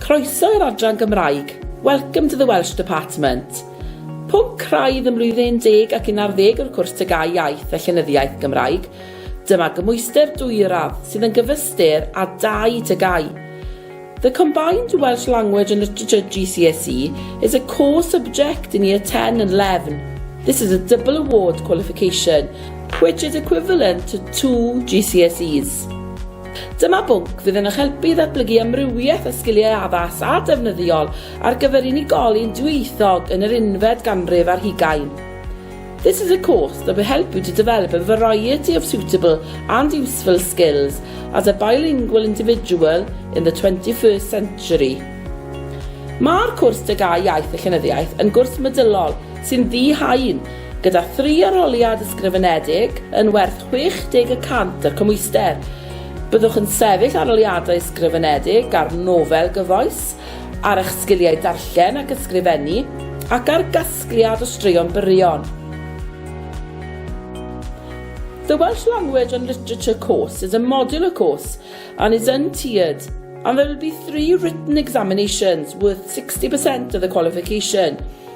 Croeso i'r adran Gymraeg. Welcome to the Welsh Department. Pob craidd ym mlwyddyn 11 ac 11 o'r cwrs Tygau Iaith a Llenyddiaeth Gymraeg. Dyma gymwyster dwyradd sydd yn gyfystyr â dau tygau. The Combined Welsh Language and Literature GCSE is a core subject in Year 10 and 11. This is a double award qualification which is equivalent to two GCSEs. Dyma bwnc fydd yn eich helpu i ddatblygu amrywiaeth o sgiliau addas a defnyddiol ar gyfer unigolyn dwyieithog yn yr unfed ganrif ar hugain. This is a course that will help you to develop a variety of suitable and useful skills as a bilingual individual in the 21st century. Mae'r cwrs Degau Iaith a Llenyddiaeth yn gwrs medylol sy'n ddi-haen Gyda thri arholiad ysgrifenedig yn werth 60 y cant y cymhwyster, byddwch yn sefyll arholiadau ysgrifenedig ar nofel gyfoes, ar eich sgiliau darllen ac ysgrifennu, ac ar gasgliad o straeon byrion. The Welsh Language and Literature course is a modular course and is untiered and there will be three written examinations worth 60% of the qualification.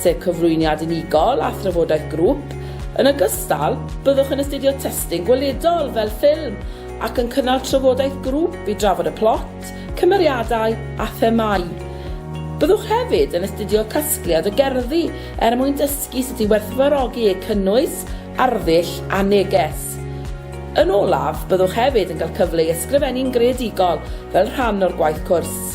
sef cyflwyniad unigol a thrafodaeth grŵp. Yn ogystal, byddwch yn astudio testun gweledol fel ffilm ac yn cynnal trafodaeth grŵp i drafod y plot, cymeriadau a themâu. Byddwch hefyd yn astudio casgliad o gerddi er mwyn dysgu sut i werthfawrogi eu cynnwys, arddull a neges. Yn olaf, byddwch hefyd yn cael cyfle i ysgrifennu'n greadigol fel rhan o'r gwaith cwrs.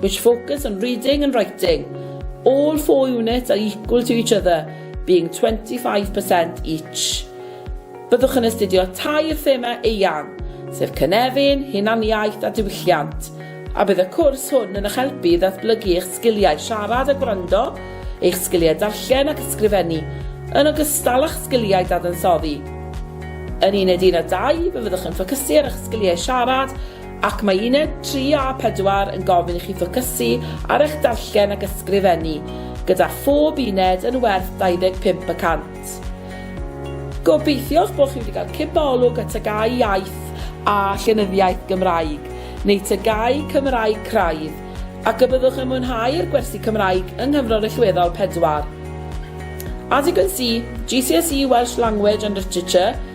which focus on reading and writing, all four units are equal to each other, being 25% each. Byddwch yn astudio tair thema eang, sef cynefin, hunaniaeth a diwylliant, a bydd y cwrs hwn yn eich helpu i ddatblygu eich sgiliau siarad a gwrando, eich sgiliau darllen ac ysgrifennu, yn ogystal â'ch sgiliau dadansoddi. Yn Uned 1 a 2, fe fyddwch yn ffocysu ar eich sgiliau siarad Ac mae uned 3 a 4 yn gofyn i chi ffocysu ar eich darllen ac ysgrifennu, gyda phob uned yn werth 25 y cant. Gobeithiwch bod chi wedi cael cipio olwg at TGAU Iaith a Llenyddiaeth Gymraeg, neu TGAU Cymraeg Craidd, ac y byddwch yn mwynhau'r gwersi Cymraeg yng Nghyfrol Rillweddol 4. As you can see, GCSE Welsh Language and Literature